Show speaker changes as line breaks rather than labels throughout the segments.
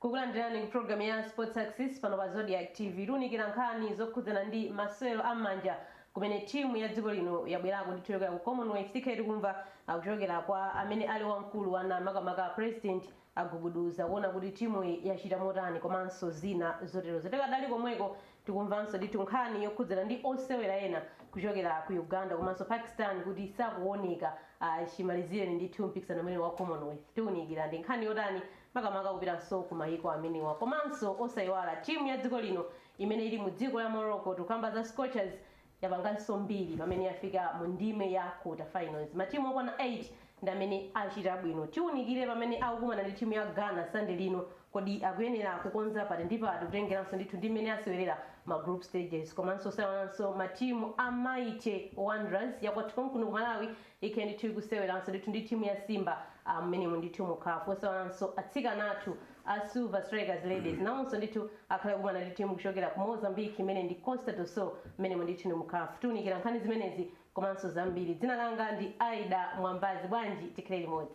kukulandirani ku programu ya Sports Access pano pa Zodiak TV tiunikira nkhani zokhudzana ndi masewero a m'manja kumene timu ya dziko lino yabwerako ndithu uko ku commonwealth tikhala tikumva kuchokera kwa amene ali wamkulu wa NAM makamaka president agubuduza kuona kuti timuyi yachita motani komanso zina zoterozo. Tidakali komweko, tikumvanso ndithu nkhani yokhudzana ndi osewera ena kuchokera ku Uganda komanso Pakistan kuti sakuoneka ayi chimalizireni ndithu mpikisano umenewu wa Commonwealth. Tiunikira ndi nkhani yotani makamaka kupitanso ku mayiko amenewa komanso osaiwala timu ya dziko lino imene ili mu dziko la Morocco, tikukamba za Scorchers, yapanganso mbiri pamene yafika mu ndime ya quarter finals. Matimu okwana 8 ndi amene achita bwino. Tiunikire pamene akukumana ndi timu ya Ghana Sunday lino. Kodi akuyenera kukonza pati ndi pati kutengeranso ndithu ndi mmene asewerera ma group stages komanso osaiwalanso matimu a Mighty Wanderers yakwathu konkuno ku Malawi ikhale ndithu ikuseweranso ndithu ndi timu ya Simba ah, mumenemu ndithu mu CAF osaiwalanso atsikana athu A Silver Strikers Ladies nawonso ndithu akhale akukumana ndi timu kuchokera ku Mozambique imene ndi Costa do Sol mumenemu ndithu ndi mu caf. Tiunikira nkhani zimenezi komanso zambiri. Dzina langa ndi Aida Mwambazi bwanji tikhale limodzi.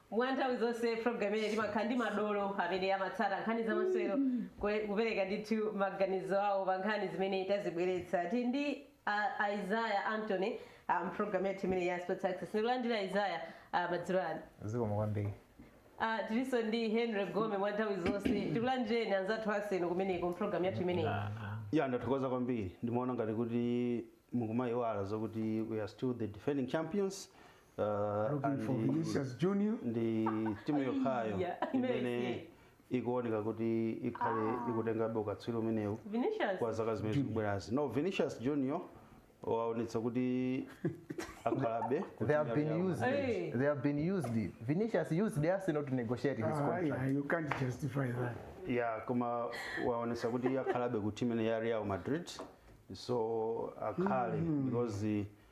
mwa nthawi zonse program imeneyi timakhala ndi madolo amene amatsata nkhani za masewero kule- kupereka ndithu maganizo awo pa nkhani zimene tazibweretsa tili ndi uh, isaya antony mu program yathu imeneyi ya sports access ndikulandira isaya uh, madzulo ano zikomo
kwambiri uh,
tilinso ndi henry gome mwa nthawi zonse tikulandireni anzathu Arsenal kumeneko mprogram yathu imeneyi ya ndathokoza
kwambiri ndimaona ngati kuti mukumayiwala zokuti we are still the defending champions Uh, Looking
for and- Vinicius Junior. ndi timu
yokhayo Iya, imene imene. ikuoneka kuti ikhale ikutengabe ukatswiri umenewu Vinicius. kwa zaka zimene zikubwerazi no vinicius junior waonetsa kuti akhalabe ku They have timu been yawo.
used. Hey. They have been used. Vinicius used Arsenal to negotiate his Ah, contract. yeah, you can't justify
that. ya koma
waonetsa kuti akhalabe ku timu imene ya real madrid so akhale because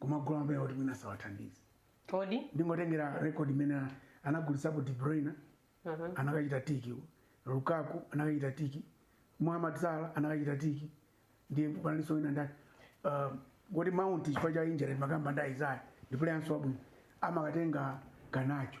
kumagula mapuleya oti mwina sawathandiza
kodi ndingotengera
record imene anagulitsapo De Bruyne Mhm. anakachita tiki Lukaku anakachita tiki Mohamed Salah anakachita tiki ndiye panalinso wina ndani uh, kuti Mount chifukwa cha injury timakamba ndi Isaiah ndi playernso wabwino akumakatenga Garnacho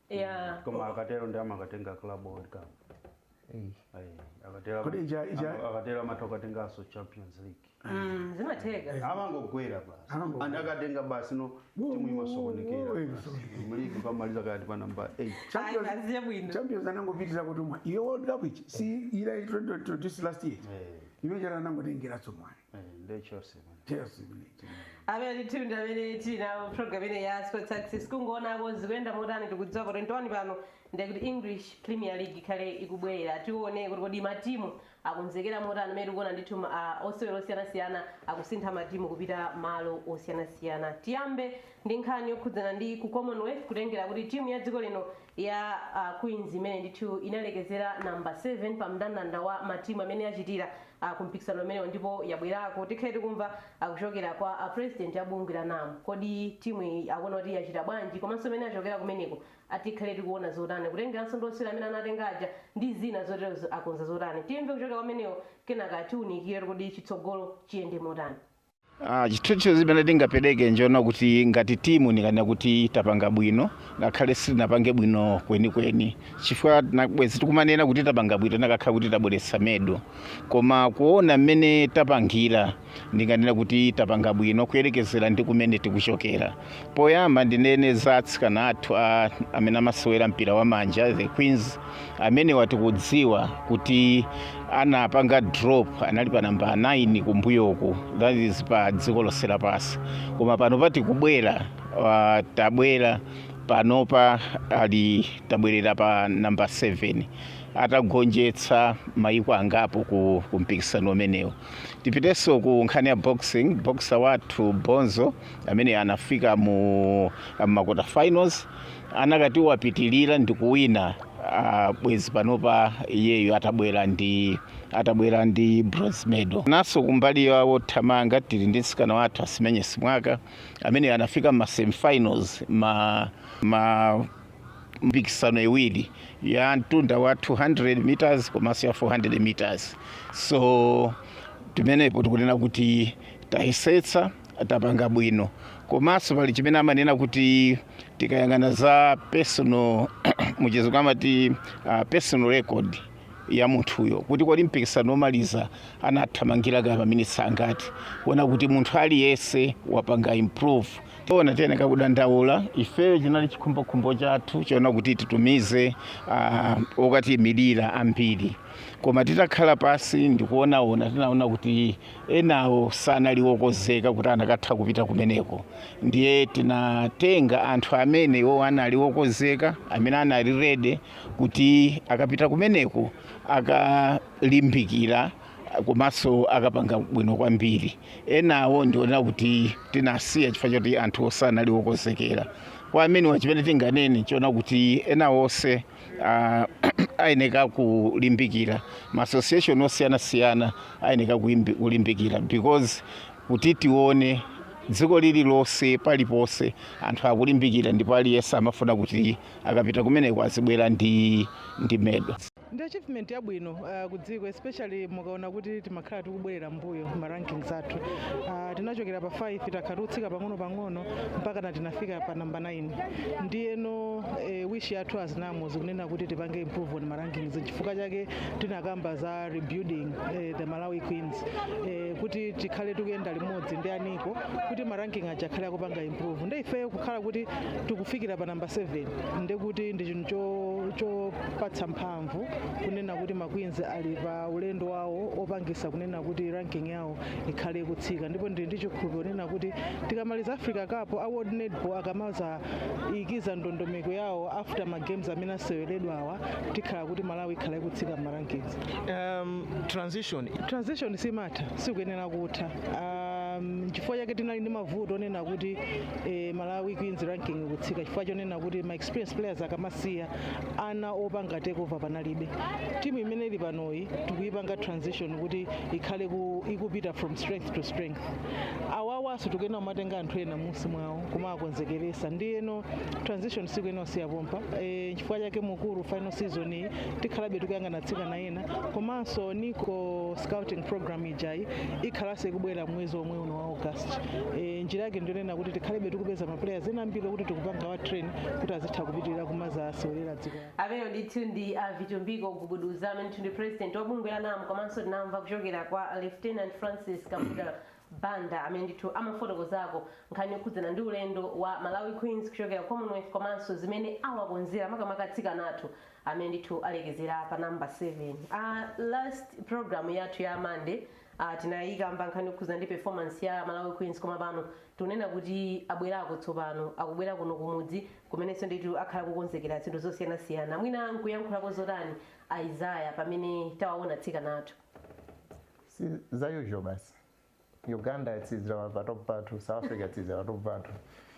Yeah.
koma
akatero ndi
amakatenga
club world
cup
Ei. Ayi, akatero- Kodi ija- ija- ama- akatero amatha kukatenganso champions league Mm, zimatheka.
amangogwera basi
Amangogwera. and akatenga basi no Wo- timu wo- wo- imasokonekera wo- basi. mu ligi amaliza kaya pa namba 8 Champions- Ayi, aziye bwino. champions
anangopitira kuti mwa iyo world cup ichi si ila introduced last year Eh. imene chata anangotengera tsomwani nde Chelsea man
Chelsea
imeneyi amene ndithu ndi amene tili nawo program imeneyi ya sports access kungoonako zikuyenda motani tikudziwa pa 21 pano ndiye kuti english premier league ikhale ikubwerera tione kuti kodi matimu akonzekera motani mmene tikuona ndithu ma- ah, osewera osiyanasiyana akusintha matimu kupita malo osiyanasiyana tiyambe ndi nkhani yokhudzana ndi ku commonwealth kutengera kuti timu ya dziko lino ya uh, Queens imene ndithu inalekezera namba 7 pa mndandanda wa matimu amene achitira uh, kumpikisano umenewo ndipo yabwerako tikhale tikumva uh, kuchokera kwa uh, president wa bungwe la NAM kodi timu iyi akuona kuti yachita bwanji komanso mmene achokera kumeneko tikhale tikuona zotani kutengeranso ndi osewera amene anatenga aja ndi zina zoterozo akonza zotani timve kuchokera kwa amenewo kenaka tiunikire kodi chitsogolo chiyende motani Ah,
chithunzithunzi chimene tingapereke njoona kuti ngati timu ndinganene kuti tapanga bwino ngakhale sitinapange bwino kwenikweni chifukwa tina bwezi tikumanena kuti tapanga bwino tikanakhala kuti tabweretsa medal koma kuona mmene tapangira ndinganene kuti tapanga bwino kuyerekezera ndi kumene tikuchokera Poyamba ndinene za atsikana athu amene amasewera mpira wa manja the Queens amenewa tikudziwa kuti anapanga drop anali pa namba 9 kumbuyoku that is pa dziko lonse lapansi koma panopa tikubwera uh, tabwera panopa ali tabwerera pa namba 7 atagonjetsa mayiko angapo ku, ku mpikisano umenewu tipitenso ku nkhani ya boxing boxer wathu bonzo ameneyo anafika mu ma quarter finals akanati wapitilira ndi kuwina uh, bwezi panopa iyeyo atabwera ndi atabwera ndi bronze medal naso kumbali ya wothamanga tili ndi mtsikana wathu asimenye simwaka ameneyo anafika mma semifinals ma, ma mpikisano iwiri ya mtunda wa 200 meters komanso ya 400 meters so pamenepo tikunena kuti tayesetsa tapanga bwino komanso pali chimene amanena kuti tikayang'ana za personal muchizungu amati uh, personal record ya munthuyo kuti kodi mpikisano womaliza anathamangira kaya maminitsi angati kuona kuti munthu aliyense wapanga improve zoona tiyeneka kudandaula ifeyo chinali chikhumbokhumbo chathu choona kuti titumize uh, okatiyimirira ambiri koma titakhala pansi ndikuonaona tinaona kuti enawo sanali okozeka kuti anakatha kupita kumeneko ndiye tinatenga anthu amene iwowo anali okozeka amene anali ready kuti akapita kumeneko akalimbikira komanso akapanga bwino kwambiri enawo ndiona kuti tinasiya chifukwa choti anthu sanali okozekera kwa amene kwa chimene tinganene nchonena kuti ena onse ah, ayeneka kulimbikira ma association osiyanasiyana ayeneka kuimbi- kulimbikira because kuti tione dziko lililonse paliponse anthu akulimbikira ndipo aliyense amafuna kuti akapita kumeneko azibwera ndi ndi medal ndi
achievement yabwino uh, ku dziko especially mukaona kuti timakhala tikubwerera mbuyo ma rankings athu uh, tinachokera pa 5 takhala tikutsika pang'ono pang'ono mpakana tinafika pa namba 9 ndiyeno e, wish yathu as NAM ndi kunena kuti tipange improve on ma rankings chifukwa chake tinakamba za rebuilding e, the malawi queens e, kuti tikhale tikuyenda limodzi ndi ana eko kuti maranking aja akhale akupanga improve nde ifeyo kukhala kuti tikufikira pa namba 7 nde kuti ndi chinthu cho- chopatsa mphamvu kunena kuti maqueens ali pa ulendo wawo opangitsa kunena kuti ranking yawo ikhale ikutsika ndipo ndili ndi chikhulupiriro chonena kuti tikamaliza africa cup a world netball akamazaikiza ndondomeko yawo after ma games amene aseweredwawa tikhala kuti malawi ikhala ikutsika m'ma rankings um, transition transition simatha sikuyenera kutha um, chifukwa chake tinali ndi mavuto onena kuti eh, malawi queens ranking ikutsika chifukwa chonena kuti ma experienced players akamasiya ana opanga takeover panalibe timu imene ili panoyi tikuyipanga transition kuti ikhale ku, ikupita from strength to strength awawanso tikuyenera kumatenga anthu ena m'munsi mwawo kumawakonzekeretsa ndiyeno transition sikuyenera kusiya pompa e, chifukwa chake mu COSAFA season iyi tikhalabe tikuyang'ana atsikana ena komanso niko scouting program ijayi ikhalanso ikubwera mwezi omwe uno wa august e, njira yake ndiyonena kuti tikhalebe tikupeza maplayers ena ambiri okuti tikuwapanga train kuti azitha kupitirira kumazaseweretsa dziko amene ndithu
ndi a vitumbiko gubuduza amene ndi president wa bungwe la NAM komanso tinamva kuchokera kwa lieutenant francis kambuda banda amene ndithu amafotokozako nkhani yokhudzana ndi ulendo wa malawi queens kuchokera commonwealth komanso zimene awakonzera makamaka atsikana athu amene ndithu alekezera pa namba 7 uh, last program yathu ya monday Ah, tinayikamba nkhani yokhudzana ndi performance ya Malawi Queens koma pano tikunena kuti abwerako tsopano akubwera kuno kumudzi kumenenso ndithu akhala akukonzekera zinthu zosiyanasiyana mwina mukuyankhulako zotani Isaiah pamene tawaona atsikana athu
si za usual basi uganda yatsirizira pa patop pathu south africa yatsirizira patop pathu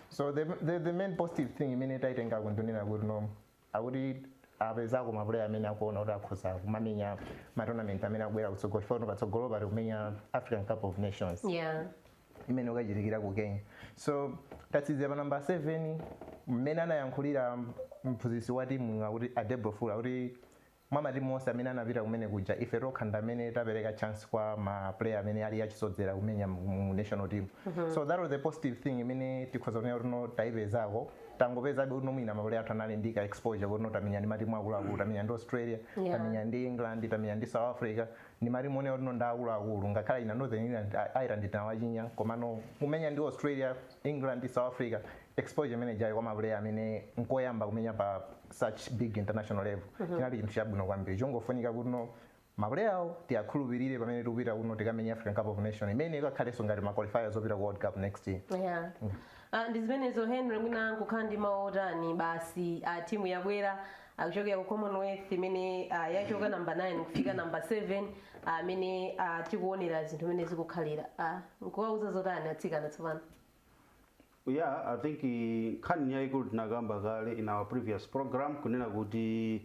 so the, the, the main positive thing imene taitengako ndi kunena kuti no akuti apezako ma player amene akuona kuti akhoza kumamenya ma tournament amene akubwera kutsogolo chifukwa kuti patsogolopa tikumenya african cup of nations yeah
imene
ukachitikira ku kenya so tatsikira pa namba 7 mmene anayankhulira mphunzitsi wa timu akuti adebro fula kuti mwa matimu onse amene anapita kumene kuja ife tokha ndi amene tapereka chance kwa ma player amene ali achisodzera kumenya mu national team mm -hmm. so that was the positive thing imene tikhoza kunena kuti no taipezako tangopezabe kuti no mwina ma player athu anali ndi ka exposure kuti no tamenya ndi matimu akuluakulu tamenya ndi australia Yeah. tamenya ndi england tamenya ndi south africa ndi matimu onena kuti no ndi akuluakulu ngakhale ina northern ireland tinawachinya komano kumenya ndi australia England ndi South Africa exposure imene ijayo kwa mapuleya amene nkoyamba kumenya pa such big international level mm -hmm. chinali chinthu chabwino kwambiri chongofunika kuti no mapuleyawo tiwakhulupirire pamene tikupita kuti no tikamenya african cup of nation imene ikakhalenso ngati maqualifiers opita ku world cup next year yeah.
mm. uh, ndi zimenezo henry mwina mungakhale ndi mawu otani basi uh, timu yabwera kuchokera ku commonwealth imene ah, yachoka namba 9 kufika namba 7 mmene ah, tikuonera zinthu mmene zikukhalira Ah, nkuwauza zotani atsikana tsopano
yeah i think eh, nkhani yayikulu tinakamba kale in our previous program kunena kuti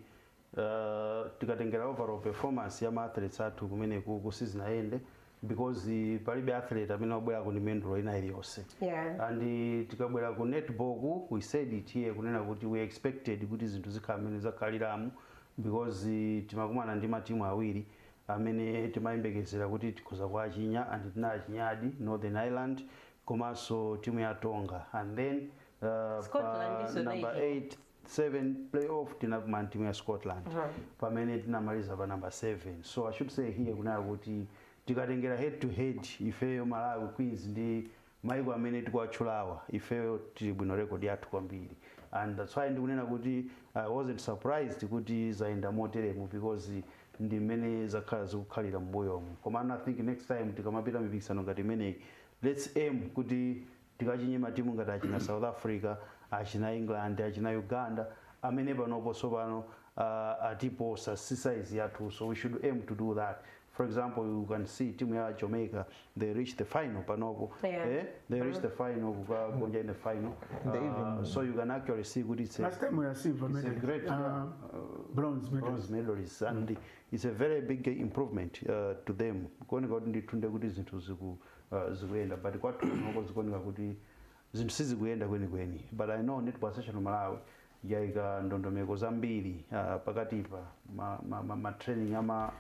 uh, tikatengera overall performance ya maathletes athu kumeneku sizinayende because palibe athlete amene wabwerako ndi mendulo ina iliyonse Yeah. and eh, tikabwera ku netballku we said it here kunena kuti we expected kuti zinthu zikhala mmene zakhaliramu because eh, timakumana ndi matimu awiri amene timayembekezera kuti tikhoza kuachinya and tinawachinyadi northern ireland komanso timu ya tonga and then uh, number 8 7 playoff tinakumana ndi timu ya scotland uh -huh. pamene tinamaliza pa number 7 so i should say here kunena kuti tikatengera head to head ifeyo malawi queens ndi maiko amene tikuwatchulawa ifeyo tili bwino record yathu kwambiri and that's why ndikunena kuti i wasn't surprised kuti zayenda moteremu because ndi mmene zakhala zikukhalira mbuyomu komano i think next time tikamapita mipikisano ngati imeneyi let's aim kuti tikachinye matimu ngati achina south africa achina england achina uganda amene panopo tsopano uh, atiposa si size yathu so we should aim to do that for example you can see timu ya jamaica they reach the final panopo Yeah. eh? they reach the final kukagonja in the final uh, so you can actually see kuti it's a- Last time we were silver It's
a medal. great, uh, yeah. bronze medal. bronze medalists
and it's a very big improvement uh, to them kuoneka kuti ndithu ndekuti zinthu ziku- uh, zikuyenda but kwathu kuno zikuoneka kuti zinthu sizikuyenda kwenikweni but i know netball association of malawi yaika ndondomeko zambiri uh, pakatipa ma, ma, ma, ma training ama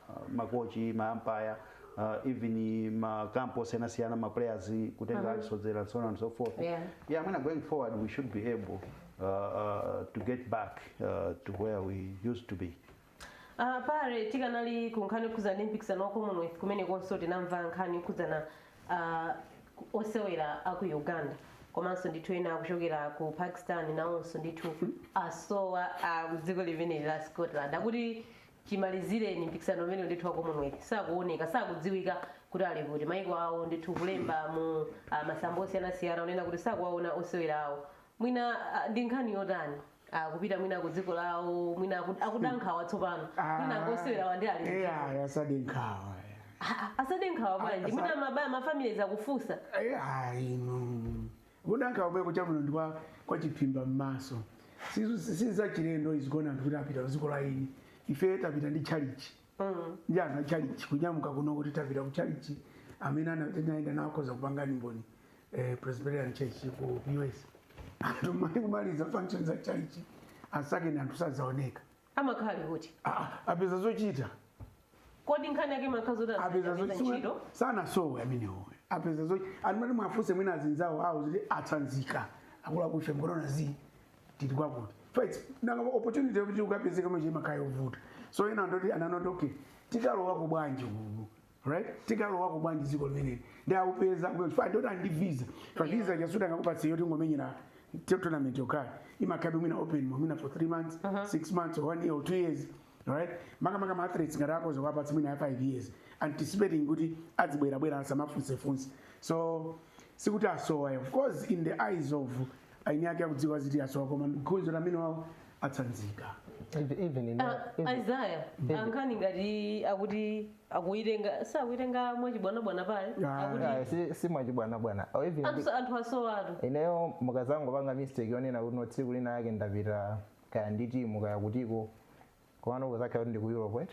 uh, makochi maampaya uh, even makampo osiyanasiyana maplayers kutenga alisodzera and so on and so forth Yeah. yeah, mwina going forward, we should be able uh, uh, to get back uh, to where we used to be. Uh,
paja tikanali ku nkhani yokhudzana ndi mpikisano wa commonwealth kumenekonso tinamva nkhani yokhudzana uh, osewera aku uganda komanso ndithu ena akuchokera ku pakistan nawonso ndithu asowa uh, dziko limeneli la scotland akuti chimalizireni mpikisano umenewu ndithu wa commonwealth sakuoneka sakudziwika kuti ali kuti maiko awo ndithu kulemba mu uh, masamba osiyanasiyana onena kuti sakuwaona osewera awo mwina uh, ndi nkhani yotani akupita mwina ku dziko lawo mwina aku- akuda nkhawa tsopano mwina osewerawa ndi ali mdziko. eya asade nkhawa
Ah, asade
nkhawa bwanji Asa- mwina mabaya ma families akufunsa
ayino kuda nkhawa kumeneko chabwino ndi kwa- kwachiphimbamaso sizachilendo izi kuona anthu kuti apita ku dziko la eni ife tapita ndi tchalichi ndi anthu achalichi kunyamuka kuno kuti tapita ku chalichi amene ana- tinayenda nawo akhoza kupanga umboni eh, presbyterian church ku us anthu mmalo kumaliza function za chalichi asakeni anthu sadzaoneka amakhala ali
kuti Ah, ah, apeza
zochita
kodi nkhani yake imakhala zoti apeza azipita zochita
ntchito sanasowe amenewo apeza zochita anthu amati muwafunse mwina azinzawo awo zoti atsanzika akulakuche ngorona zi tili kwakuti faits nanga opportunity yokuti ukapezekenso imakhala yovuta so ena ndi oti anangoti okay tikalowako bwanji kuku right tikalowako bwanji dziko limeneli ndi akupeza kufa ndoti ali ndi visa fa visa chasuti angakupatse yoti yongomenyera te- tournament yokhala imakhalabe mwina open mwina for three months six months or one year or two years right makamaka ma athletes ngati akhoza kuwapatsa mwina ya five years anticipating kuti adzibwerabwera asamafunsefunse so sikuti asowa of course in the eyes of eni ake akudziwa zoti asowa koma gonjera amene wawo atsanzika
Even- even in- Ah, even-
isaya ankhani ngati akuti akuitenga sakuitenga mwachibwanabwana paja Ah, akuti Ah, si-
si mwachibwanabwana Oh, even anthu sa-
anthu asowatu ineyo
mukazangopanga mistake yonena kuti no tsiku lina yake ndapita kaya ndi timu kaya kutiko komano kuzakhala kuti ndi ku europe right?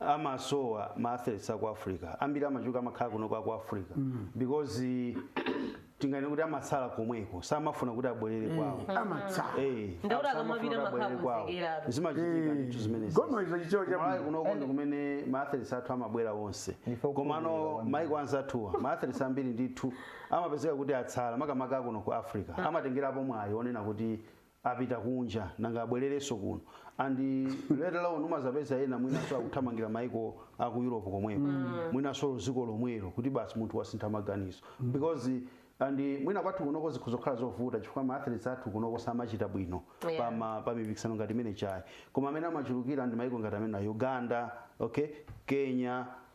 amasowa ma athletes aku africa ambiri amachuka amakhala kunoko aku africa because tinganene kuti amatsala komweko samafuna kuti abwerere kwawo amatsala Eh,
Ndauti samafuna
akamapita kuti abwerere makhamu kwawo. zikera. zimachitika
ndithu zimenezi Koma izo chichewa cha
Kumalawi bwino. kunoko ndi
kumene ma athletes athu amabwera onse Ndife okhulupirira komano kwambiri. maiko anzathuwa ma athletes ambiri ndithu amapezeka kuti atsala makamaka kuno ku africa amatengerapo mwayi onena kuti apita kunja nanga abwererenso kuno and let alone umazapeza ena mwinanso akuthamangira maiko a ku europe komweko mwinanso ziko lomwelo kuti basi munthu wasintha maganizo because and mwina kwathu kunoko zikhoza kukhala zovuta chifukwa ma athletes athu kunoko samachita bwino Yeah. pa ma- pa mipikisano ngati imeneyi ayi koma amene amachulukira ndi maiko ngati amene a uganda okay kenya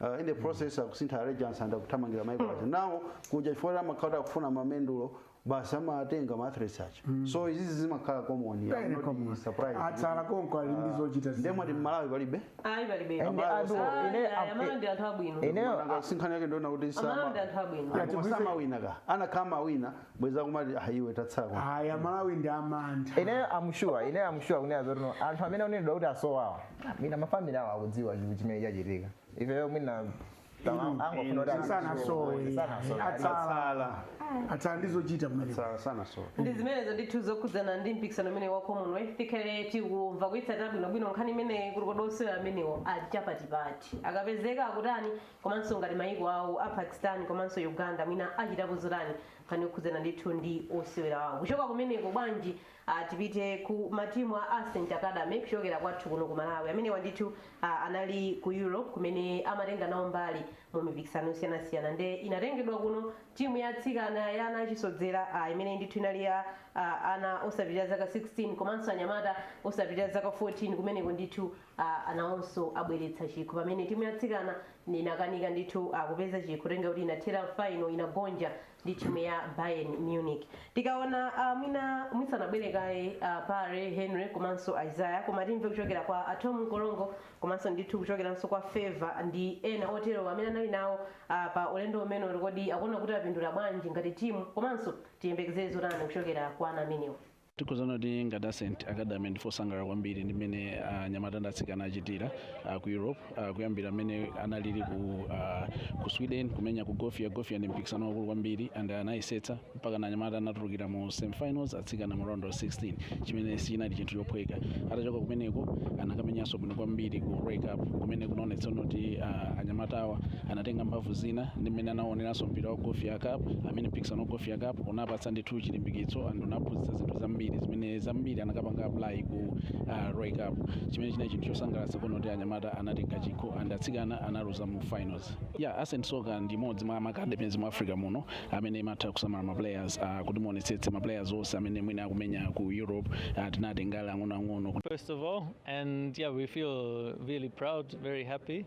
Uh, in the process akusintha allegiance and akuthamangira maiko aja nawo kuja chifukwa kuti amakhala kuti akufuna mamendulo basi amatenga ma athletes aja so izizi zimakhala common I'm Very not common. surprised. atsala konko
ali ndi zochita zina. nde mwati mmalawi
palibe ayi palibe Ende
Amalawi anthu osati. Ah, ine
yeah, am- amalawi ndi anthu abwino
ineyo Nanga sinkhani yake
ndiona kuti amalawi ndi anthu abwino Ati kwese- samawina akanakhala amawina bwenzi akumati ah iwe tatsala kwa aya amalawi
ndi amantha ine I'm sure
ine I'm sure kunena zoti no anthu amene akunenedwa kuti asowawa mwina ma family awo akudziwa chinthu chimene chachitika ifeyo mwina tama- Inu, angofuna kuti sana asowe Sanasowe. atsala atsala ndizochita mmaliro Sa- sana so
ndi zimenezo
ndithu zokhudzana ndi mpikisano umenewu wa commonwealth tikhale tikumva kuyitsatira bwinobwino nkhani imeneyi kuti kodi osewera amenewo ali chapati pati akapezeka akutani komanso ngati mayiko awo a Pakistan komanso Uganda mwina achitapo zotani nkhani yokhudzana ndithu ndi osewera awo. Kuchoka kumeneko bwanji ah, tipite ku matimu a Ascent Academy kuchokera kwathu kuno ku Malawi. Amenewa ndithu ah, anali ku Europe kumene amatenga nawo mbali mu mipikisano yosiyanasiyana nde inatengedwa kuno timu ya atsikana ya ana achisodzera ah, imene ndithu inali ya ah, ana osapitirira zaka 16 komanso anyamata osapitirira zaka 14 kumeneko ndithu a anawonso abweretsa chikho pamene timu ya atsikana inakanika ndithu kupeza chikho potengera kuti inathera final inagonja ndi timu ya Bayern Munich tikaona ah, mwina mwisanabwere kaye ah, Pare Henry komanso Isaiah koma timve kuchokera kwa a Thom Mkolongo komanso ndithu kuchokeranso kwa Favor ndi ena otero amene anali nawo ah, pa ulendo umenewu kuti kodi akuona kuti apindula bwanji ngati timu komanso tiyembekezere zotani kuchokera kwa ana amenewo tikhoza
kunena kuti ngati Ascent Academy ndife osangalala kwambiri ndi mmene anyamata ndi atsikana achitira ah, ku europe ah, kuyambira mmene analili ku, ah, ku sweden kumenya ku Gothia Gothia ndi mpikisano wakulu kwambiri and anayesetsa mpakana anyamata anatulukira mu semifinals atsikana mu round of 16 chimene sichinali chinthu chophweka atachoka kumeneko anakamenyanso bwino kwambiri ku Rey Cup kumene kunaonetsa kuti ah, anyamatawa anatenga mphamvu zina ndi mmene anaoneranso mpira wa Gothia cup amene mpikisano wa Gothia cup unawapatsa ndi thu chilimbikitso and unawaphunzitsa zinthu zambiri zimene zambiri anakapanga apply ku uh, Rey Cup chimene chinali chinthu chosangalatsa kuona kuti anyamata anatenga chikho and atsikana analuza mu finals yeah ascent soccer ndi imodzi mwa macademies mu africa muno amene imatha kusamala ma players uh, kuti muonetsetse ma players onse amene mwina akumenya ku europe uh, tinawatenga ali ang'onoang'ono First of all,
and yeah, we feel really proud, very happy.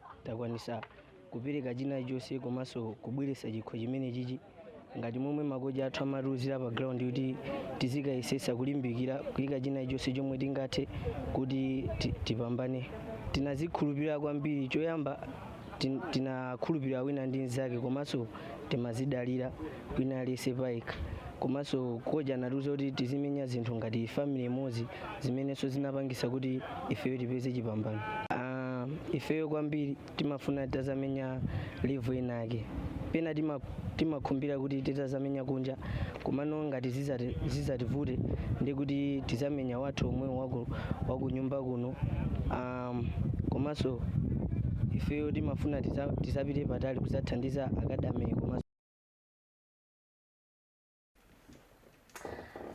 takwanisa kupereka chinachilichonse komanso kubweretsa chikho chimene chichi ngati momwe makochi athu amatiuzira pa ground kuti tizikayesetsa kulimbikira kuyika chinachilichonse chomwe tingathe kuti ti- tipambane tinazikhulupirira kwambiri choyamba tin- tinakhulupirira wina ndi mnzake komanso timazidalira wina aliyese payekha komanso kocha anatiuza kuti tizimenya zinthu ngati family imodzi zimenenso zinapangisa kuti ifeyo tipeze chipambano Ah, ifeyo kwambiri timafuna tazamenya level inake pena tima- timakhumbira kuti titazamenya kunja komano ngati zizati- zizativute ndi kuti tizamenya wathu omwe waku- wakunyumba kuno um, komanso ifeyo timafuna tiza- tizapite patali kuzathandiza academy komanso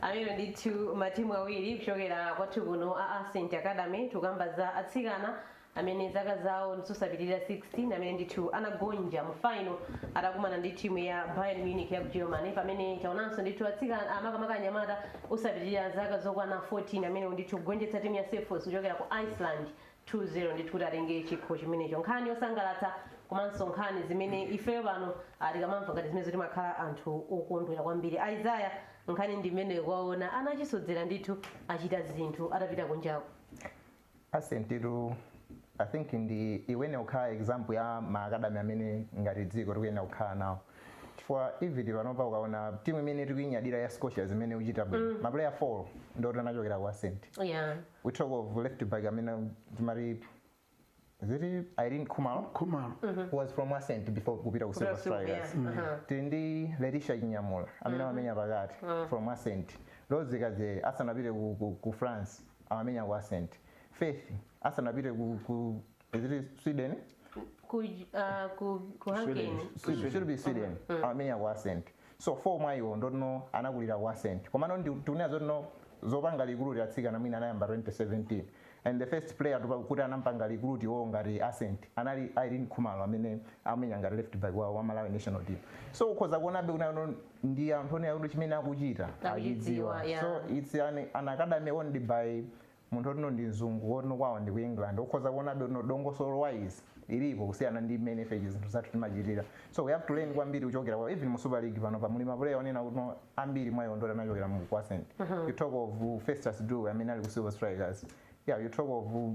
amene ndithu matimu awiri kuchokera kwathu kuno a ascent academy tikukamba za atsikana amene zaka zawo ndizosapitirira 16 amene ndithu anagonja mu final atakumana ndi timu ya bayern munich ya ku germany pamene taonanso ndithu atsikana makamaka anyamata osapitirira zaka zokwana 14 amene ndithu kugonjetsa timu ya selfoss kuchokera ku iceland 2 0 ndithu kuti atenge chikho chimenecho nkhani yosangalatsa komanso nkhani zimene ifeyo pano ah, tikamamva ngati zimenezo timakhala anthu okondwera kwambiri isaiah nkhani ndi imeneyo kuona ana achisodzera ndithu achita zinthu atapita kunjako
ascent i think ikuyenera kukhala example ya maakadami amene ngati dziko tikuyenera kukhala nawo chifukwa even panopa ukaona timu imene tikuinyadira ya scorchers imene ikuchita bwino mapuleya 4 ndoti anachokera ku ascent yeah. we talk of left back amene timati is it Irene Khumalo Khumalo. who was from Ascent before kupita ku Silver Kupita Silver, Strikers yeah. Mhm. tili ndi Leticia Chinyamula amene amamenya pakati from Ascent Rose Kadzere asanapite ku, ku, ku France amamenya ku Ascent Faith asanapite ku, ku is it Sweden Ku, uh, ku,
ku Hungary. Sweden. Sweden. should be Sweden
amamenya ku Ascent so 4 mwaiwo ndotino anakulira ku ascent komano ndi tikunena zotino zopanga recruit atsikana mwina anayamba 2017 and the first player tupa kuti anampanga recruit iwowo ngati ascent anali Irene Khumalo amene amenya ngati left back wa, wa Malawi national team so ukhoza kuonabe kuti ano ndi anthu onena kuti chimene akuchita Akuchidziwa, yeah. so it's an, an academy owned by munthu otino ndi mzungu otino kwawo ndi ku england ukhoza kuonabe kuti no dongosolo wise ilipo kusiyana ndi mmene ife chi zinthu zathu timachitira so we have to learn kwambiri kuchokera kwa even mu super league panopa muli ma player onena kuti no ambiri mwa iwo ndoti anachokera mu ku ascent you talk of uh, festus duwe amene ali ku silver strikers yeah you talk of uh,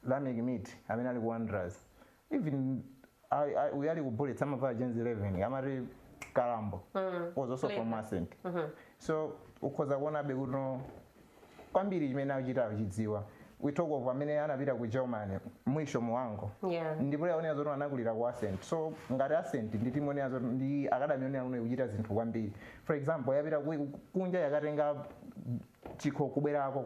lameck mithi amene ali ku wanderers even I, I, uyu ali ku bullets amavala jersey 11 amati kalambo mm. was also from ascent mm -hmm. so ukhoza kuonabe kuti no kwambiri chimene akuchita akuchidziwa we talk of amene anapita ku germany mwisho mhango Yeah. ndi player onena zoti anakulira ku ascent so ngati ascent ndi timu yonena zoti ndi akadami yonena kuti no ikuchita zinthu kwambiri for example yapita ku- kunja yakatenga chikho kubwerako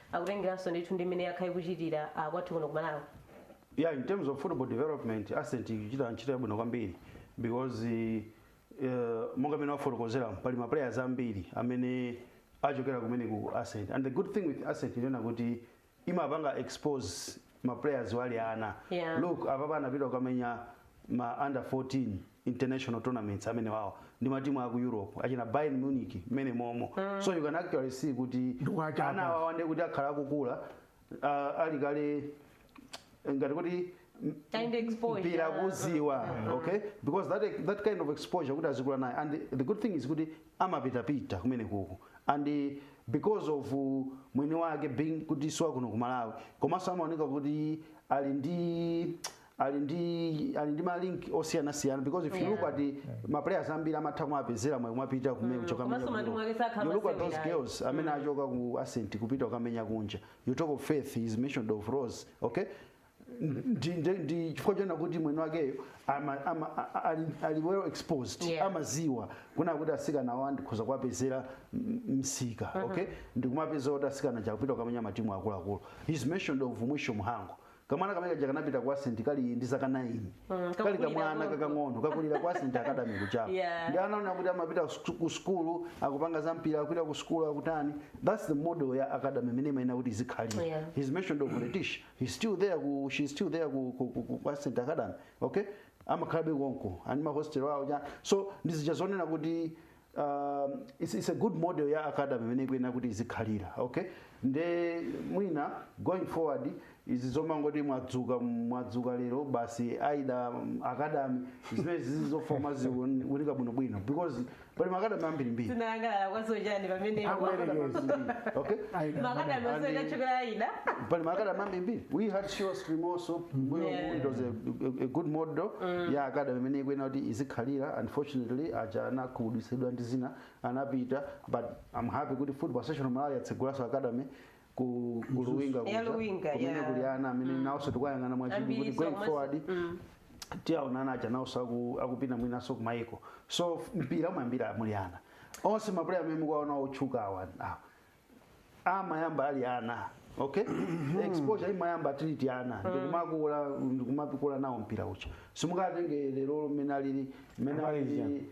akutengeranso ndithu ndi mmene yakhala ikuchitira ah, kwathu kuno ku malawi yeah in
terms of football development ascent ikuchita ntchito yabwino kwambiri because uh, monga mmene wafotokozera pali ma players ambiri amene achokera kumene ku ascent and the good thing with ascent ndi yonena kuti imapanga expose ma players ali ana Yeah. look apapa anapita kukamenya ma under 14 international tournaments amenya awo ndi matimu aku europe achina bayern munich mmene momo so you can actually see kuti Ndikuwachapa. ana awawa ndi kuti akhala akukula ah, ali kale ngati kuti m- Kind exposure. mpira kuziwa okay because that, that kind of exposure kuti azikula naye and the good thing is kuti amapitapita kumenekoko and because of mwini wake being kuti siwa kuno ku malawi komanso amaoneka kuti ali ndi ali ndi ali ndi malink osiyanasiyana because if you look at the ma players ambiri amatha kumapezera mwayi kumapita kumenya kuchoka komanso kumenya matimu ake kuno. sakhala you look at those masewera. girls amene achoka ku ascent kupita kukamenya kunja you talk of faith he's mentioned of rose okay ndi ndi- ndi chifukwa chonena kuti mwini wakeyo ama- ama- a- a- ali- ali well exposed Yeah. amaziwa kunena kuti asikana awa ndikhoza kuwapezera m- msika okay ndikumapeza kuti asikana aja akupita kukamenya matimu akuluakulu he's mentioned of mwisho mhango kamwana kamene kaja kanapita ku ascent kali ndi zaka 9 Mm, kali kakulira kamwana konko. kakang'ono kakulira ku ascent academy kuchapa Yeah. ndi ana onena kuti amapita ku- ku sukulu akupanga za mpira akupita ku sukulu akutani that's the model ya academy imene imayenera kuti izikhalira Yeah. he's mentioned of Letitia he's still there ku she's still there ku ku ku, ku ku ascent Academy okay amakhalabe konko ali ndi ma hostel awo aja so ndi zija zonena kuti um, it's, it's a good model ya academy imene ikuyenera kuti izikhalira okay nde mwina going forward izi zomangoti mwadzuka mwadzuka lero basi aida um, academy zimene zizifoma ziwunikidwe bwinobwino because pali makadami ambirimbiri tinayangana
kwazochani pamene
Akuyerekeza. okay makadami
And- asoja chokera ida pali makadami
ambirimbiri we had surestream-so mmbuyo Yeah. it was a, a, a good model ya academy imene ikuyenera kuti izikhalira unfortunately aja anakhumudwitsidwa ndi zina anapita but i'm happy kuti football association of malawi yatsegulaso academy ku ku luwinga Ya kuja, Luwinga, kumene ya. kuli ana amene nawonso tikuyang'ana mwachidwi Ambiri kuti going komanso- forward Mm. tiwaona ana aja nawonso aku- akupita mwinanso kumayiko so f- mpira umayambira muli ana onse mapuleya amene mukuwaona otchuka awa awa, amayamba ali ana okay exposure imayamba tili ti ana ndikumakula ndikumapikula nawo mpira uja simungatenge lero mmene alili mmene Amalizi alili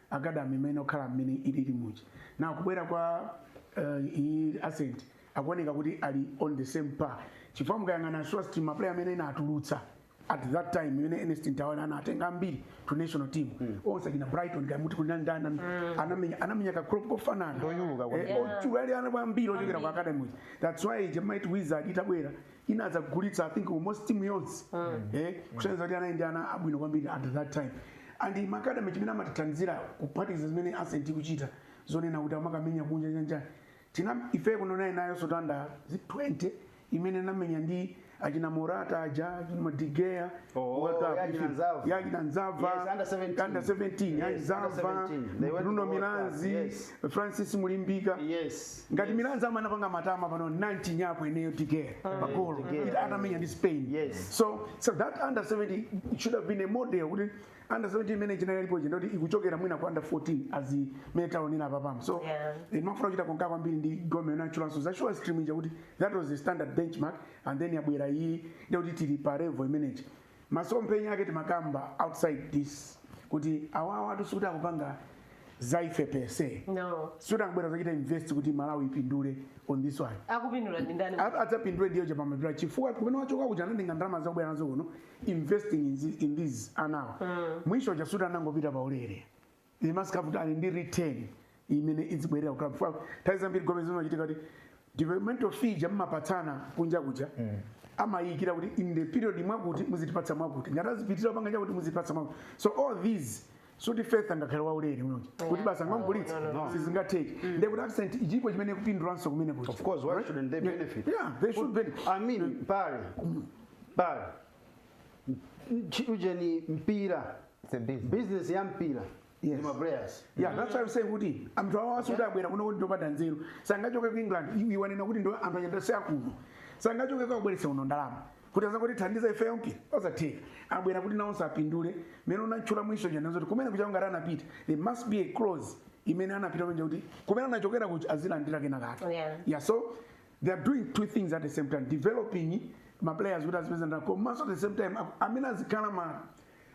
academy imene okhala mmene ilili muja na kubwera kwa uh, iyi ascent akuoneka kuti ali on the same par chifukwa mukayang'ana Surestream maplayer amene inatulutsa at that time imene Ernest Mtawali anatenga ambiri tu national team onse akina Brighton amuti kunandana anamenya anamenya ka crop kofanana Ndoyuluka kwambiri. Eh, oti anali ana ambiri ochokera ku academy uja. that's why jamait wizard itabwera ina adzagulitsa i think almost timu yonse eh kusonyeza kuti anali ndi ana abwino kwambiri at that time and ma academy chimene amatithandizira kuphatikiza zimene Ascent ikuchita zonena kuti amakamenya kunja nyanjani china ife kuno naye nayo under 20 imene inamenya ndi achina morata aja achina De Gea Oh, World Cup, yachina ife- Nzava. yachina nzava Yes, under 17. under 17 Yes, yachina under nzava 17. They went to bruno World Cup, milanzi yes. francis mulimbika yes ngati Milanzi amapanga matama pano nanchi nyapo ineyo De Gea pagolo De Gea. Ita- atamenya ndi spain Yes. so so that under 17 it should have been a model kuti under 17 imene chinalipo ndi yoti ikuchokera mwina ku under 14 as imene taonera papamo so Yeah. imafuna kuchita concur kwambiri ndi gome nachulanso za Surestream ija kuti that was the standard benchmark and then yabwera iyi ndekuti tili pa level imeneyi Masomphenya ake timakamba outside this kuti awawatu sikuti akupanga za ife per se No. sikuti angobwera
kudzachita invest
kuti malawi ipindule on this one Akupindula ndi
ndani? A- adzapindule ndiyo
chapamapeto chifukwa kumene wachoka kuja anatenga ndalama zake kubwera nazo kuno investing in, thi- in these anawa Mwisho uja sikuti anangopita paulere they must have kuti ali ndi return imene idzibwerera kukhala mfwa nthawi zambiri gome zimachitika kuti developmental fee ija amapatsana kunja kuja amayikira kuti in the period mwakuti muzitipatsa mwakuti ngati adzapitirira panga chakuti muzitipatsa mwakuti so all these sikuti Faith angakhale waulere no kuti basi angomugulitsa sizingatheke ndiye kuti Ascent chilipo chimene ikupindulanso kumene kuti Of course, why shouldn't
they benefit? yeah they should benefit
I mean, pale
pale Ch- ujeni mpira It's a business.
business ya
mpira Yes. ndi ya ma
players
yeah that's why i'm saying kuti
anthu awo sikuti abwera kuno kuti ndopanda nzeru sangachoke ku england iwe wanena kuti ndi anthu anayi si akuno sangachoke kubweretsa kuno ndalama kuti azangoti thandiza ife okha osatheka abwera kuti nawonso apindule mmene unatchula Mwisho ujanso kuti kumene kuja ngati anapita there must be a clause imene anapita kunja kuti kumene anachokera kuti azilandira kenakake Yeah. yeah so they are doing two things at the same time developing ma players kuti azipeza ndalama komanso at the same time aku- amene azikhala ma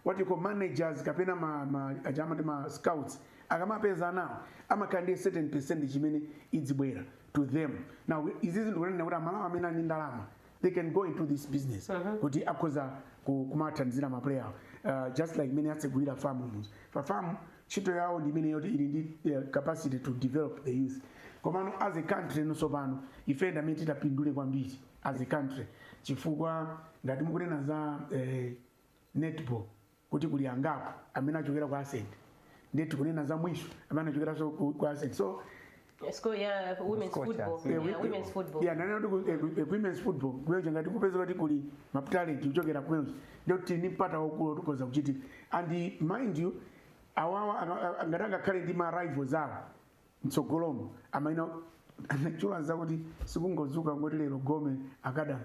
what you call managers kapena ma, ma, aja amati ma scouts akamapeza anawo amakhala ndi a certain percentage imene izibwera to them now izizi ndikunena kuti aMalawi amene ali ndi ndalama they can go into this business kuti akhoza ku- kumathandizira ma player uh, just like mmene atsegulira farm muzi pa farm ntchito yawo ndi imene yoti ili ndi eh, capacity to develop the youth komano as a country nonso pano ife ndi amene titapindule kwambiri as a country chifukwa ngati mukunena za eh, netball kuti kuli angapo amene achokera ku ascent ndiye tikunena za mwisho amene achokeranso ku ku ascent so
Sco- ya women's Scotia. football. Eh, Ya we- women's football.
Yeah, nanena kuti ku- eh, eh, women's football kumeneko ngati kupeza kuti kuli ma talent kuchokera kumeneko ndiye kuti ni mpata waukulu woti ukhoza kuchitika and mind you awawa anga- a- ngati angakhale ndi ma rivals awo mtsogolomo amaina chula zakuti sikungozuka ngoti lero gome akadali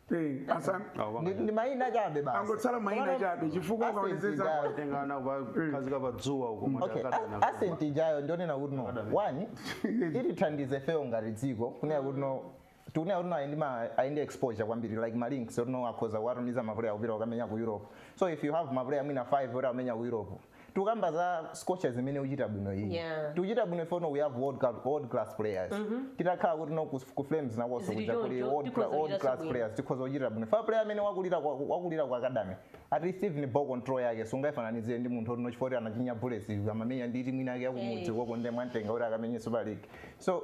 Eh, asa- Awo Ndi- banga.
ndi maina chabe basi angotsala maina Komano-
chabe chifukwa Ascent ukaonetsetsa ijayo. Watenga ana kukakhazika
pa dzuwa huko Okay, matakata a- na-
ascent ijayo ndionena kuti no one itithandize fewo ngati dziko kunena kuti no tikunena kuti no ayi ndi ma- ali ndi exposure kwambiri like ma links oti no akhoza kuwatumiza mapuleya kupita kukamenya ku europe so if you have mapuleya mwina 5 oti amenya ku europe tikukamba za scorchers imene ikuchita bwino iyi Yeah. tikuchita bwino ife no we have world, cla- world class players titakhala kuti no ku, ku flames nakonso Zili kuja kuti choncho, world, tikhoza cla- world kuchita class bwino. players tikhoza kuchita bwino chifukwa player amene wakulira kwa- wakulira kwa academy at least even ball control yake sungayifananizire ndi munthu oti no chifukwa kuti anachinya bullets amamenya ndi timu inake yakumudzi Eh. koko ndiye mwamutenga kuti akamenye super league so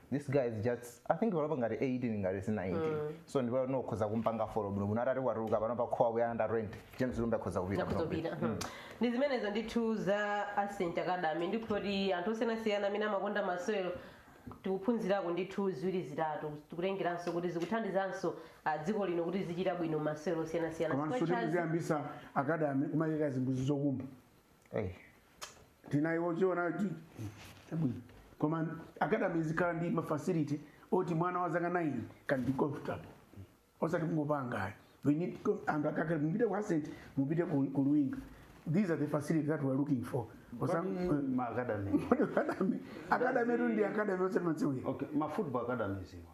this guy is just i think panopa ngati 18 ngati 19 so ndipo mukhoza kumpanga follow bwino bwino atati watuluka panopa khowa kuyana nda rent james lumbe akhoza kupita nakuzopita ndi
zimenezo ndithu za ascent academy ndikuti anthu osiyanasiyana amene amakonda masewero tikuphunzirako ndithu ziwiri zitatu tikutengeranso kuti zikuthandizanso ah, dziko lino kuti lizichita bwino masewero osiyanasiyana komanso Square Chance- tikuziyambisa
akadami kumayika zimbuzi zokumba Eh. tinayiwochiona kuti chabwino koma academy izikhala ndi mafacility oti mwana wa zaka 9 can be comfortable osati kungopanga ayi we need com- anthu akakhala mupite ku ascent mupite ku ku luwinga these are the facilities that we are looking for Osam- maakadami academy academy tu ndi academy osati madziwira okay ma football
academies awa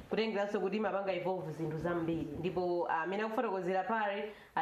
kutengeranso kuti imapanga involve zinthu zambiri ndipo ah, amene akufotokozera apa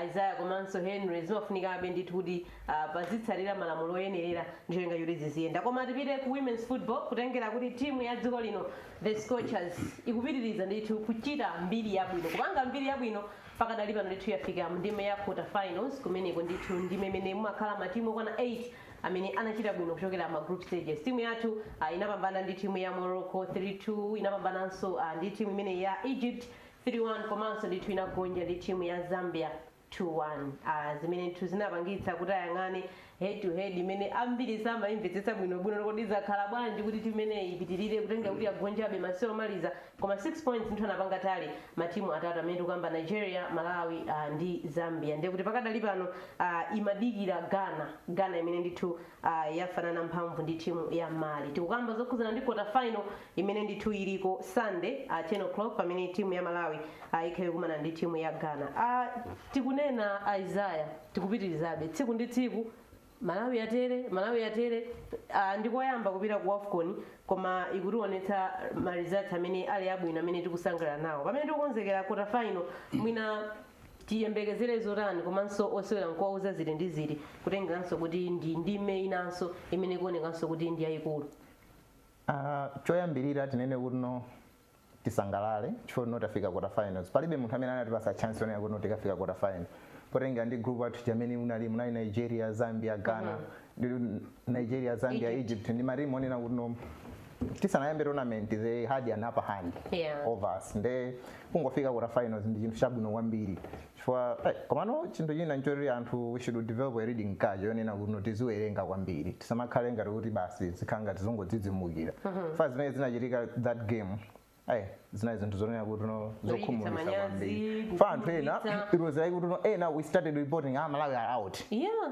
isaiah komanso henry zimafunikabe ndithu kuti ah, pazitsatira malamulo oyenerera ndi cholinga choti ziziyenda koma tipite ku women's football kutengera kuti timu ya dziko lino the scorchers ikupitiriza ndithu kuchita mbiri yabwino kupanga mbiri yabwino pakadali pano ndithu yafika mndime ya quarter finals kumeneko ndithu ndime imene mumakhala matimu okwana 8 amene anachita bwino kuchokera ma group stages timu yathu uh, inapambana ndi timu ya morocco 32 inapambananso uh, ndi timu imene ya egypt 31 komanso ndithu inagonja ndi timu ya zambia 2-1 uh, zimene ndithu zinapangitsa kuti ayang'ane head to head imene ambiri samayimvetsetsa bwinobwino kodi zakhala bwanji kuti timu imeneyi ipitirire kutengera kuti yagonjabe masewero omaliza Koma 6 points ndithu anapanga tally ma team atatu amene tikukamba Nigeria, Malawi uh, ndi Zambia. Ndiye kuti pakadali pano uh, imadikira Ghana, Ghana imene ndithu uh, yafanana mphamvu ndi timu ya Mali. Tikukamba zokhudzana ndi quarter final imene ndithu iliko Sunday uh, 10 o'clock pamene timu ya Malawi uh, ikhale ikukumana ndi timu ya Ghana. Uh, tikunena Isaiah tikupitirizabe tsiku ndi tsiku Malawi yatere, Malawi yatere, ah, ndikoyamba kupita ku Wafcon koma ikutiwonetsa ma results amene ali abwino amene tikusangalala nawo. Pamene tikukonzekera quarter final mwina tiyembekezere zotani komanso osewera nkuwauza ziti ndi ziti kutengeranso kuti ndi ndime inanso imene ikuonekanso kuti ndi yayikulu. Ah, choyambirira
tinene kutino tisangalale chifukwa chotino tafika quarter finals palibe munthu amene anatipasa chance yonena kuti tikafika quarter final potengera ndi group yathu mmene unali munali nigeria zambia ghana mm-hmm. nigeria zambia egypt, egypt ndi matimu onena kutino tisanayambe tournament they had an upper hand yeah. over us nde kungofika quarter finals ndi chinthu chabwino kwambiri chifukwa eh, komano chinthu china nchoti anthu we should develop a reading culture yonena kuti tiziwerenga kwambiri tisamakhale ngati kuti basi zikhala ngati tizingodzidzimukira fa zimene zinachitika that game ayi zinali zinthu zonena kutino zokhumudwitsa manyazi, kwambiri fa anthu ena kukhumudwitsa. it was like kutino ena we started reporting ah malawi are out yeah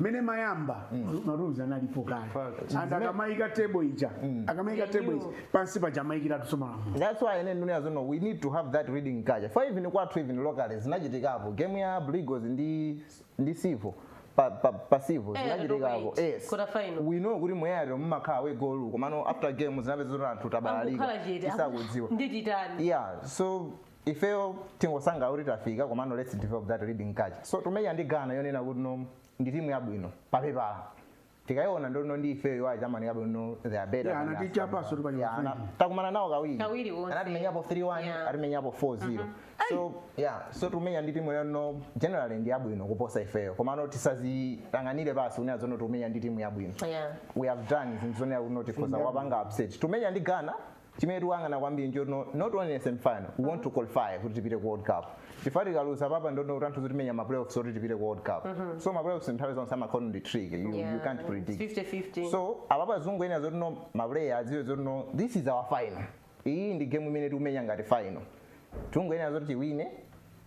mmene imayamba marules analipo kale Fact. and akamayika table ija akamayika They table knew. ija pansi paja amayikiratu so malamulo that's why ine ndikunena
zotino we need to have that reading culture for even kwathu even locally zinachitikapo game ya Blue Eagles ndi ndi Civo pa, pa, pa Civo Eh, zinachitikapo Dodoma eight, yes quarter final. we know kuti mu away rule mumakhala away goal komano after game zinapezeka zoti anthu tabalalika akukhala chete tisakudziwa ndititani yeah so ifeyo tingosangalala kuti tafika komano lets develop that reading culture so tumenya ndi ghana yonena kutino ndi timu yabwino papepala tikayiona ndi yotino ndi ifeyo iwayi chamani yabwino they are better Yeah, than anati us. chapaso tupali Yeah, ana- mafundi. takumana nawo kawiri Kawiri wonse. anatimenyapo 3-1 Yeah. atimenyapo 4-0 so yeah so tumenya ndi timu yoti generally ndi yabwino kuposa ifeyo komano tisadziyang'anire pansi kunena zotino tumenya ndi timu yabwino Yeah. we have done zinthu zonena kuti no tikhoza kuwapanga upset tumenya ndi ghana chimene tikuyang'ana kwambiri nchotino, not only in semifinal we want to qualify kuti tipite ku world cup chifukwa tikaluza apapa ndono kuti anthu tidzamenya ma playoffs oti tipite ku world cup so ma playoffs nthawi zonse amakhala tricky you, you can't predict 50-50.
so apapa
tizingonena zotino maplayer adziwe zotino this is our final iyi ndi game imene tikumenya ngati final tingonena zoti tiwine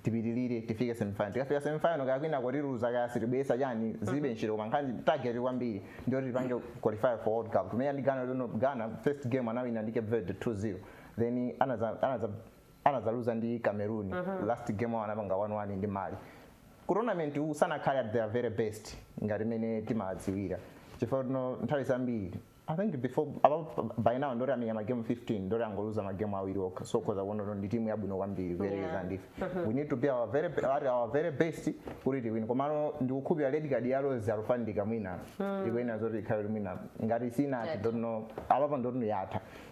tipitirire tifike semifinal tikafika semifinal kaya kwina tikaluza kaya sitibweretsa chani zilibe ntchito koma nkhani target kwambiri ndiyoti tipange qualify for world cup tumenya ndi ghana lino ghana first game anawina ndi cape verde 2-0 then anaza- anaza- anazaluza ndi cameroon last game awo anapanga 1-1 ndi mali ku tournament uwu sanakhale at their very best ngati mmene timadziwira chifukwa chotino nthawi zambiri I think before apapa by now ndoti amenya ma game 15 ndoti angoluza ma game awiri okha so ukhoza kuona kuti ndi timu yabwino kwambiri kuyerekeza ndi ife we need to be our very best at our very best kuti tiwine komano ndikukhulupira red card ya Rose Alufandika mwina ikuyenera zoti ikhale kuti mwina ngati sina- I don't know apapa ndoti yatha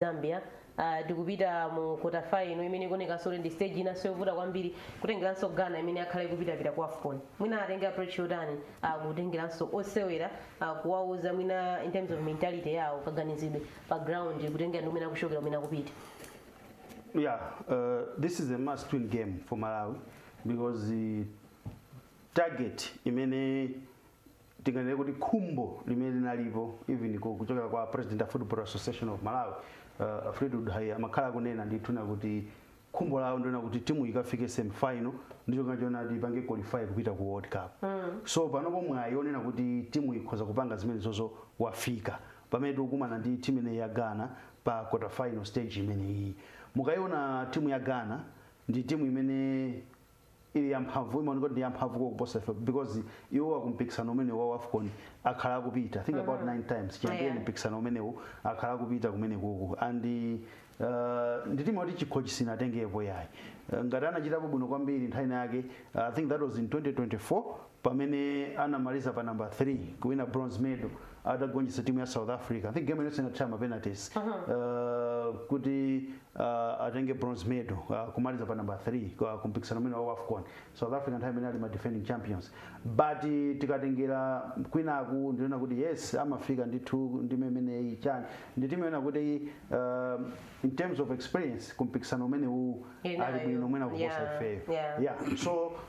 zambia uh, tikupita mu quarter final imene ikuonekanso kuti ndi stage inanso yovuta kwambiri kutengeranso ghana imene akhala ikupitapita ku afcon mwina atenge approach yotani uh, kutengeranso osewera uh, kuwauza mwina in terms of mentality yawo kaganizidwe pa ground kutengera ndi kumene akuchokera kumene
akupita Yeah, uh, this is a must win game for Malawi because the target imene tinganene kuti khumbo limene linalipo even ku- kuchokera kwa president a football association of malawi uh, fleetwood haiya amakhala akunena ndithu kunena kuti khumbo lawo ndi lonena kuti timu ikafike semifinal ndi cholinga chonena kuti ipange qualify kupita ku world cup mm. so panopo mwayi onena kuti timu ikhoza kupanga zimenezozo wafika pamene tikukumana ndi timu imeneyi ya ghana pa quarter final stage imeneyi mukayiona timu ya ghana ndi timu imene ili yamphamvu imaoneka kuti ndi yamphamvu kuposa ife because iwo akumpikisano umenewu wa wafcon akhala akupita I think about nine times chiyambireni Yeah. mpikisano umenewu akhala akupita kumenekuku and uh, ndi timu yoti chikho chisinatengepo yayi uh, ngati anachitapo bwino kwambiri nthawi inayake uh, i think that was in 2024 pamene anamaliza pa number 3 kuwina bronze medal atagonjetsa timu ya south africa i think game inonso inathera ma penalties uh, kuti uh, atenge bronze medal uh, kumaliza pa number 3 ku kumpikisano umene wa afcon south africa nthawi imene ali ma defending champions but eh, tikatengera kwinaku ndi kunena kuti yes amafika ndithu ndime imeneyi chani ndi timu yonena kuti uh, in terms of experience kumpikisano umenewu Inayo. ali bwino mwina kuposa Yeah, ifeyo yeah. yeah so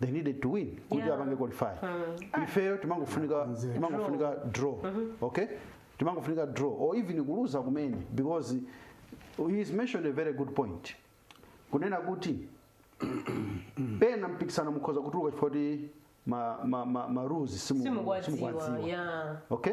they needed to win kuti Yeah. apange qualify ifeyo timangofunika timangofunika draw okay timangofunika draw or even kuluza kumene because he has mentioned a very good point kunena kuti pena mpikisano mukhoza kutuluka chifukwa choti ma, ma, ma, ma rules simu- simukuwadziwa simukuwadziwa. ya okay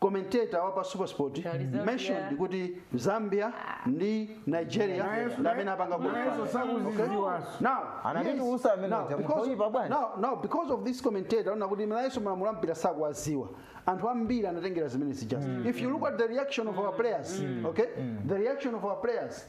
commentator wa pa supersport Tali Zambia. mentioned kuti zambia ndi nigeria Nayeso- ndi amene apanga nayeso qualify. sakuzidziwanso. Okay? Now, Anatiti yes. usa amene Now, uja, because- mukuoipa bwanji? now- now, because of this commentator wonena kuti nayeso malamulo a mpira sakuwadziwa anthu ambiri anatengera zimene zija if you look at the reaction of our players okay the reaction of our players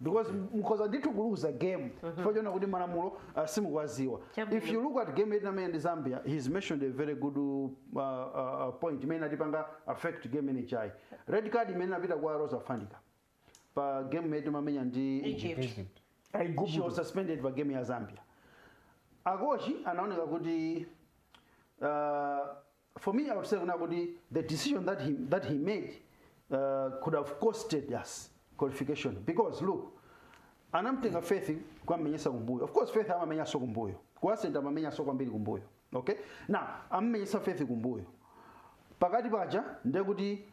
because mukhoza ndithu kuluza game chifukwa chonena kuti malamulo uh, simukuwadziwa Chabwino. if you look at game yoti amenye ndi zambia he's mentioned a very good uh, uh, uh, point imene inatipanga affect game imene ija red card imene inapita kwa rose alufandika pa game imene timamenya ndi Egypt. Egypt. Egypt. she was aigupto suspended pa game ya zambia akochi anaoneka kuti uh, for me, I would say kunena kuti the decision that he, that he made uh, could have costed us qualification because look anamtenga faith kukammenyesa kumbuyo of course faith amamenyaso kumbuyo ku center amamenyaso kwambiri kumbuyo okay now ammenyesa faith kumbuyo pakati paja ndiye kuti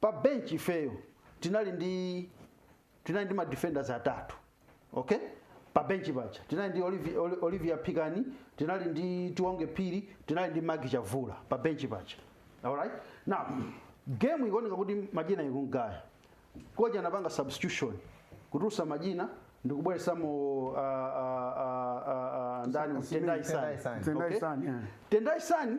pa bench ifeyo tinali ndi tinali ndi ma defenders atatu okay pa bench paja tinali ndi Olivia, Oli- Olivia Pikani tinali ndi Tiwonge Phiri tinali ndi Magi Chavula pa bench paja alright now game ikuoneka kuti majina ikumugaya coach anapanga substitution kutulutsa majina ndikubweresamo uh, uh, uh, uh, uh, ndani Tendai Tendai Sani. Sani. Tendai Okay? Sani, yeah. Tendai Sani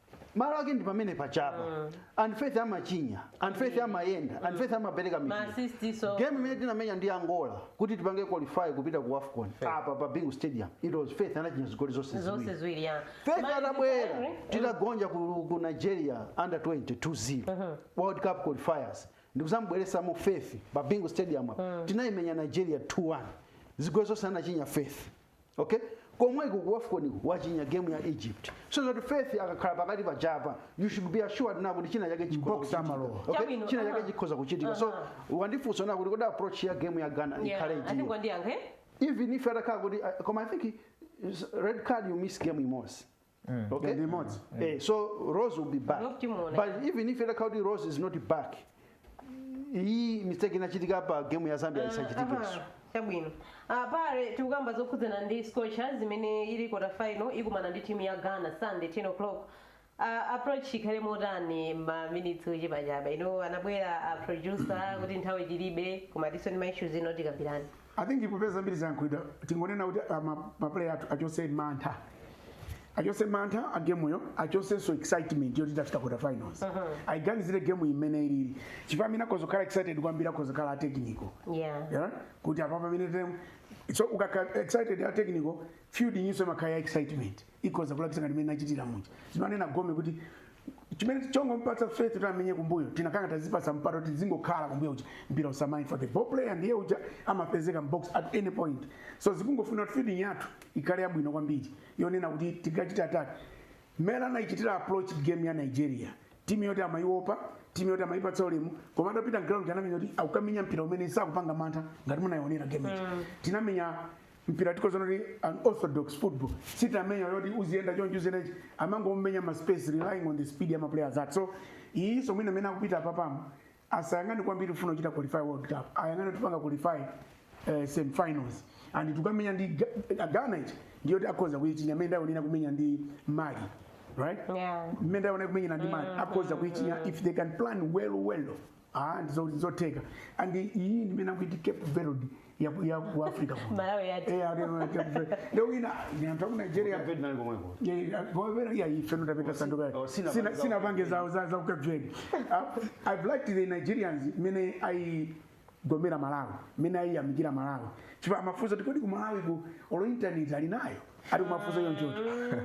malo ake ndi pamene pajapa and faith amachinya and faith amayenda and faith amapereka mipira. Maasisti so. game imene tinamenya ndi angola kuti tipange qualify kupita ku afcon apa pa bingu stadium it was faith anachinya zigoli zonse zonse ziwiri ziwiri ya faith Mali atabwera zitatu, eh? titagonja ku, ku nigeria under 20 2-0 world cup qualifiers ndikuzamubweresamo faith pa bingu stadium apa tinaimenya nigeria 2-1 zigoli zonse anachinya faith okay komweko ku wafcon wachinya game ya egypt zoti faith akakhala pakati pajapa you should be assured na kuti china chake chikhoza Box amalowa. kuchitika. Okay? Chabwino, china chake aha. chikhoza kuchitika so Aha. wandifunsa na kuti kodi approach ya game ya ghana Yeah, ikhale I think ndiyo undiyankhe. even if atakhala kuti I- koma i think is- red card you miss game imodzi okay ndi imodzi eh, so rose will be back Not timuona. but even if itakhala kuti rose is not back iyi mistake inachitika pa game ya zambia isachitikenso Aha, chabwino
Ah, pale tikukamba zokhudzana ndi scorchers imene ili quarter final ikumana ndi timu ya ghana sunday 10 o'clock Ah, approach ikhale motani maminitsi ochepachepa pano anabwera a producer kuti nthawi tilibe koma tiso ndi maissues ena tikambirani I think
popeza zambiri zayankhulidwa tingonena kuti ah, ma- ma player athu achotse mantha achotse mantha a gemuyo achotsenso excitement yoti tafika quarter finals ayiganizire gemuyi mmene ilili chifukwa amene akhoza kukhala excited kwambiri akhoza kukhala a technical yeah yeah? kuti apa pamene tem so ukakhala excited a technical feeding'yinso imakhala ya excitement ikhoza kulakwitsa ngati mmene inachitira muja zimanena gome kuti chimene chongomupatsa faith kuti amenye kumbuyo tinakhala ngati tazipatsa mpata kuti zingokhala kumbuyo uja mpira usamayende forward ball player ndiye uja amapezeka mbox at any point so zikungofuna kuti feeding yathu ikhale yabwino kwambiri yonena kuti tikachite attack mmene anaichitira approach game ya nigeria timu yoti amaiopa timu yoti amaipatsa ulemu koma atapita mground anamenya kuti akukamenya mpira umene sakupanga mantha ngati munayionera game ija tinamenya mpira tikhoza kunena kuti unorthodox football sitamenya yoti uziyenda choncho uziyendachi amangomenya ma space relying on the speed ya maplayers athu so iyinso mwina amene akupita apapamo asayang'ane kwambiri kufuna kuchita qualify world cup ayang'ane tipanga qualify uh, semifinals and tikamenya ndi Ga- ghana ichi ndiyoti akhoza kuyichinya mmene ndaonera kumenya ndi mali right Yeah. mmene ndaonera kumenyera ndi mali akhoza kuyichinya if they can plan well well Ah, ndi zo- zotheka and iyi ndimene akuti cape verde ya ku- ya ku africa kuno. Malawi yati. Eh, ali-
ali- Cape Verde.
lero wina ndi anthu aku nigeria Cape Verde nali komweko. Oh, sina- sina pange zawo za za ku cape verde i've liked the nigerians mene aigomera malawi mene aiyamikira malawi chifukwa amafunsa kuti kodi ku malawiko olo internet ali nayo ati kumafunsa chonchocho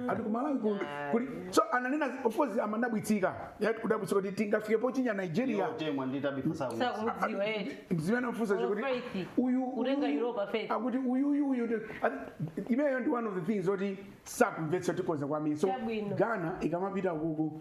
ati kumalawi ku- kuli so ananena of course amadabwitsika eti kudabwitsa kuti tingafike pochinya nigeria temwa ndi tabitha saku sakudziwa eti nzimene anafunsa All kuti faith. uyu Kutenga uyu-
Europa faith. akuti uyu uyu uyu
ndi- ati- imeneyo ndi one of the things oti sakumvetsa tikhoza kwambiri so Chabwino. ghana ikamapita kuko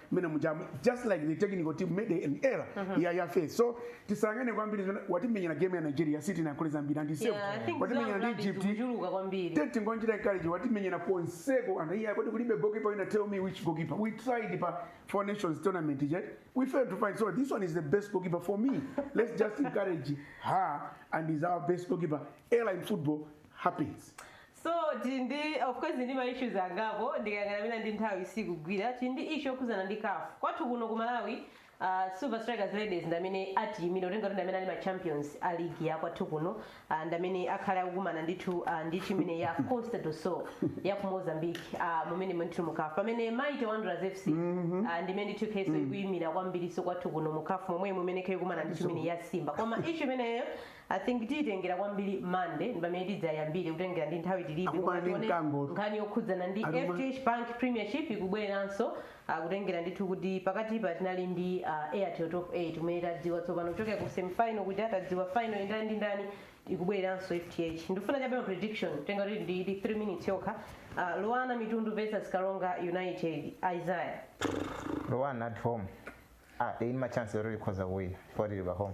mene mujamu just like the technical team made an error uh -huh. ya ya face so tisangane kwambiri watimenyera game ya Nigeria City na kuleza mbira ndi same yeah, watimenyera ndi Egypt kujuluka kwambiri tete ngonjira college watimenyera Fonseca and here kodi kulibe goalkeeper ina tell me which goalkeeper we tried pa four nations tournament yet we failed to find so this one is the best goalkeeper for me let's just encourage her and is our best goalkeeper airline football happens So
tili ndi of course ndi ma issues angapo ndikayang'ana mwina ndi nthawi sikugwira tili ndi issue yokhudzana ndi CAF kwathu kuno ku Malawi Uh, Silver Strikers Ladies ndamene atiyimira kutengera kuti ndamene ali ma champions a league ya kwathu kuno uh, ndamene akhale akukumana ndithu uh, ndi timu imene ya Costa do Sol ya ku Mozambique uh, mumene ndithu mu CAF pamene Mighty Wanderers FC uh, ndimene ndithu ikhalenso ikuyimira kwambirinso kwathu kuno mu CAF momwe mumene ikhale ikukumana ndi timu imene ya Simba koma issue imeneyo I think tiyitengera kwambiri Monday ndipamene tidzayambire kutengera ndi nthawi tilibe Akukumana koma ndi tione mkango. nkhani yokhudzana ndi Aluma. FDH Bank Premiership ikubweranso kutengera ndithu kuti pakatipa tinali ndi uh, Airtel Top 8 kumene tadziwa tsopano kuchokera ku semifinal kuti tadziwa final ndi ndani ndi ndani ikubweranso FDH ndifuna chabe ma prediction kutengera kuti ndi ndi 3 minutes yokha uh, LUANAR Mitundu versus Karonga United Isaiah
LUANAR at home. Ah, ili ndi chance yoti ikhoza kuwina. Poti ili pa home.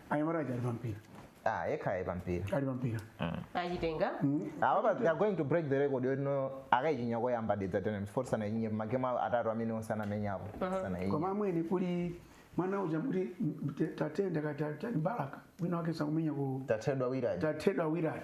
anyamata aja ali pampira ah yekha
ayi pampira ali
pampira
achitenga awa but they
are going to break the record yotino akayichinya koyamba dedza dynamos poti sanayichinye magemu awo atatu amene onse anamenyapo sanayichinye koma amwene
kuli mwana uja kuti tatenda katali m'balaka wina wake sakumenya ku tathedwa willard tathedwa
willard